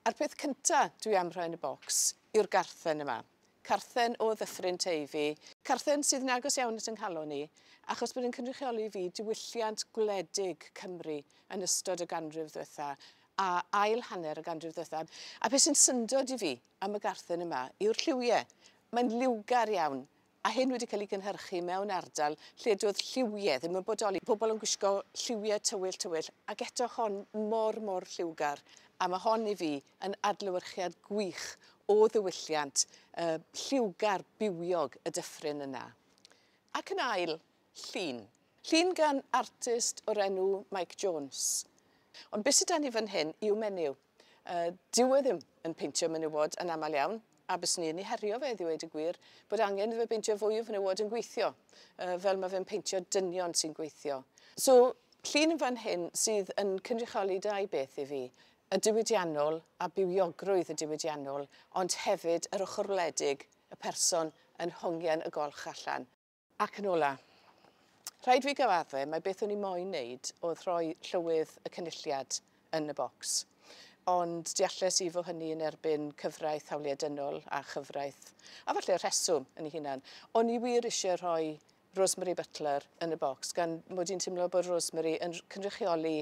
A'r peth cynta dwi am rhoi yn y bocs yw'r garthen yma. Carthen o Ddyffryn Teifi. Carthen sydd yn agos iawn at 'y nghalon i, achos bod yn cynrychioli i fi diwylliant gwledig Cymru yn ystod y ganrif ddwetha, a ail hanner y ganrif ddwetha. A beth sy'n syndod i fi am y garthen yma yw'r lliwie. Mae'n liwgar iawn, a hyn wedi cael ei gynhyrchu mewn ardal lle doedd lliwiau ddim yn bodoli. Pobl yn gwisgo lliwiau tywyll tywyll ac eto hon mor mor lliwgar a mae hon i fi yn adlewyrchiad gwych o ddiwylliant uh, lliwgar bywiog y dyffryn yna. Ac yn ail, llun. Llun gan artist o'r enw Mike Jones. Ond beth sydd dan ni fan hyn i'w menyw? Dyw e ddim yn peintio menywod yn aml iawn, a byswn i yn ei herio fe i ddweud y gwir, bod angen iddo fe beintio fwy o fenywod yn gweithio, fel mae fe'n peintio dynion sy'n gweithio. So, llun yn fan hyn sydd yn cynrychioli dau beth i fi, y diwydiannol a bywiogrwydd y diwydiannol, ond hefyd yr ochr wledig, y person yn hongian y golch allan. Ac yn ola'. Rhaid fi gyfadde, mae beth o'n i moyn neud oedd rhoi llywydd y Cynulliad yn y bocs. Ond dealles i fo' hynny yn erbyn cyfraith hawliau dynol a chyfraith, a falle rheswm yn ei hunan. O'n i wir isie rhoi Rosemary Butler yn y bocs, gan mod i'n timlo bod Rosemary yn cynrychioli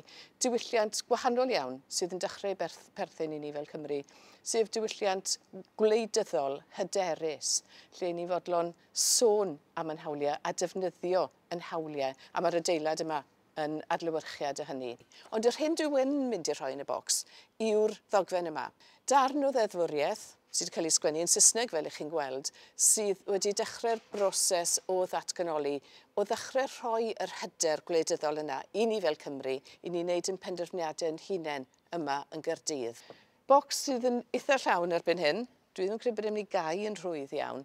diwylliant gwahanol iawn sydd yn dechrau berth, perthyn i ni fel Cymru, sef diwylliant gwleidyddol hyderus, lle ni'n fodlon sôn am ein hawliau a defnyddio ein hawliau, a mae'r adeilad yma yn adlewyrchiad o hynny. Ond yr hyn dwi yn mynd i rhoi yn y bocs yw'r ddogfen yma. Darn o ddeddfwriaeth, sydd wedi cael ei sgwennu yn Saesneg fel ych chi'n gweld, sydd wedi dechrau'r broses o ddatganoli, o ddechrau rhoi yr hyder gwleidyddol yna i ni fel Cymry, i ni wneud ein penderfyniadau ein hunain yma yn Gaerdydd. Bocs sydd yn eitha llawn erbyn hyn. Dwi ddim yn credu bod e'n mynd i gau yn rhwydd iawn.